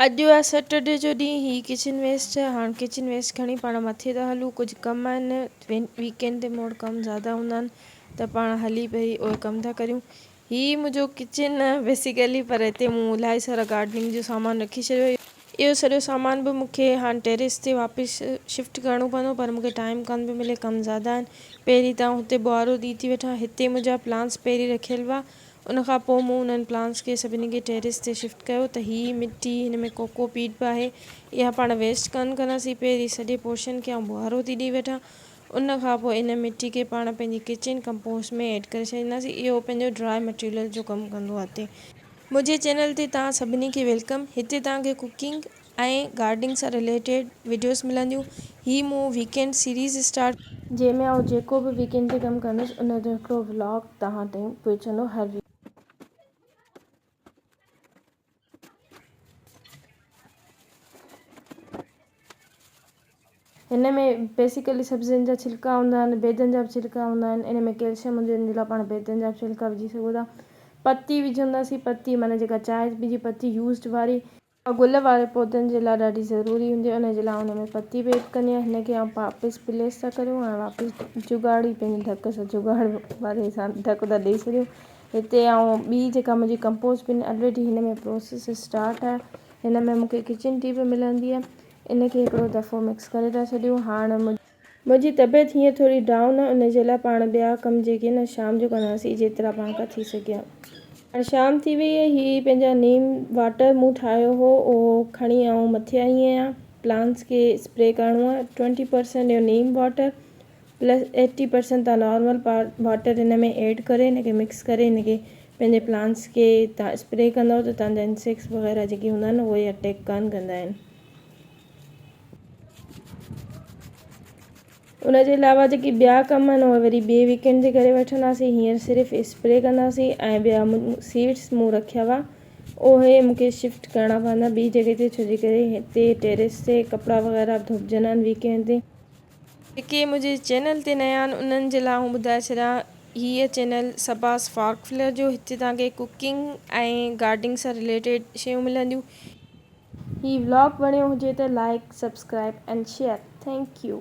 اڄ آ سيٽرڊي جو ڏينهن هي ڪچن ويسٽ هاڻ ڪچن ويسٽ کڻي پاڻ مٿي ٿا هلون ڪجهه ڪم آهن ويڪينڊ تي موڙ ڪم زياده هوندا آهن ته پاڻ هلي پهري اهي ڪم ٿا ڪريون هي منهنجو ڪچن آهي بيسيڪلي پر هتي مون الائي سارا گارڊننگ جو سامان رکي ڇڏيو اهو سڄو سامان به مون کي هاڻ ٽيريس تي واپس شفٽ ڪرڻو پوندو پر مون کي ٽائيم ڪانه پيو ملي ڪم زياده آهن پهري ته آئون هتي ٻوهارو ڏئي ٿي وٺان هتي منهنجا پلانس پهري رکيل هئا ان کان پوء مون انهن پلانٽس کي سڀني کي ٽيريس تي شفٽ ڪيو ته هي مٽي هن ۾ ڪوڪو پيٽ به آهي اها پاڻ ويسٽ ڪانه ڪنداسين پهرين سڄي پورشن کي آئون ٻوهارو ٿي ڏئي وٺان ان کان پوء ان مٽي کي پاڻ پنهنجي ڪچن ڪمپوسٽ ۾ ايڊ ڪري ڇڏينداسين اهو پنهنجو ڊرائي مٽيريل جو ڪم ڪندو آهي منهنجي چينل تي توهان سڀني کي ويلڪم هتي توهان کي ڪوڪنگ. ۽ گارڊنگ سان رليٽيڊ وڊيوز ملنديون هي مون ويڪينڊ سيريز اسٽارٽ ڪئي. جنهن ۾ آئون جيڪو به ويڪينڊ تي ڪم ڪندس ان جو هڪڙو ولاگ توهان تائين پهچندو هر ويڪ. هن ۾ بيسيڪلي سبزين جا ڇلڪا هوندا آهن بيضن جا به ڇلڪا هوندا آهن ان ۾ ڪيلشم هوندي آهي ان جي لاء پاڻ بيضن جا به ڇلڪا وجهي سگهو ٿا پتي وجهنداسين پتي معنيٰ جيڪا چانهه جي پتي يوزڊ واري اها گل واري پودن جي لاء ڏاڍي ضروري هوندي آهي ان جي لاء ان ۾ پتي بيڊ ڪندي آهيان هن کي آئون واپس پليس ٿا ڪريون هاڻي واپس جگاڙي پنهنجي ڍڪ سان جگاڙ واري سان ڍڪ ٿا ڏئي ڇڏيون هتي آئون ٻي جيڪا منهنجي ڪمپوز بن الريڊي هن ۾ پروسيس اسٽارٽ آهي هن ۾ مونکي ڪچن ٽي به ملندي آهي ان کي هڪڙو دفعو مڪس ڪري ٿا ڇڏيون هاڻ منهنجي منهنجي طبيعت هينئر ٿوري ڊائون آهي ان جي لاء پاڻ ٻيا ڪم جيڪي نه شام جو ڪنداسين جيترا پاڻ کان ٿي سگهيا. هاڻي شام ٿي وئي هئي هي پنهنجا نيم واٽر مون ٺاهيو هو اهو کڻي آئون مٿي آئي آهيان پلانٽس کي اسپري ڪرڻو آهي ٽوئنٽي پرسنٽ اهو neem water plus eighty percent تان نارمل واٽر هن ۾ ايڊ ڪري هن کي مڪس ڪري هن کي پنهنجي پلانٽس کي تان اسپري ڪندو ته تان جا انسيڪس وغيره جيڪي هوندا آهن اهي اٽيڪ ڪانه ڪندا آهن ان جي علاوه جيڪي ٻيا ڪم آهن اهي وري ٻي ويڪ اينڊ تي ڪري وٺنداسين هينئر صرف اسپري ڪنداسين ۽ ٻيا سيڊس مون رکيا هئا اهي مون کي شفٽ ڪرڻا پوندا ٻي جڳهه تي ڇو جي ڪري هتي ٽيريس تي ڪپڙا وغيره به ڌوپجندا آهن ويڪ اينڊ تي. جيڪي منهنجي چينل تي نيا آهن انهن جي لاء آئون ٻڌائي ڇڏيان هيء چينل صباس فارڪ فلر جو هتي توهان کي ڪوڪنگ ۽ گارڊنگ سان رليٽيڊ شيون ملنديون. هي ولاگ وڻيو هجي ته like subscribe and share thank U.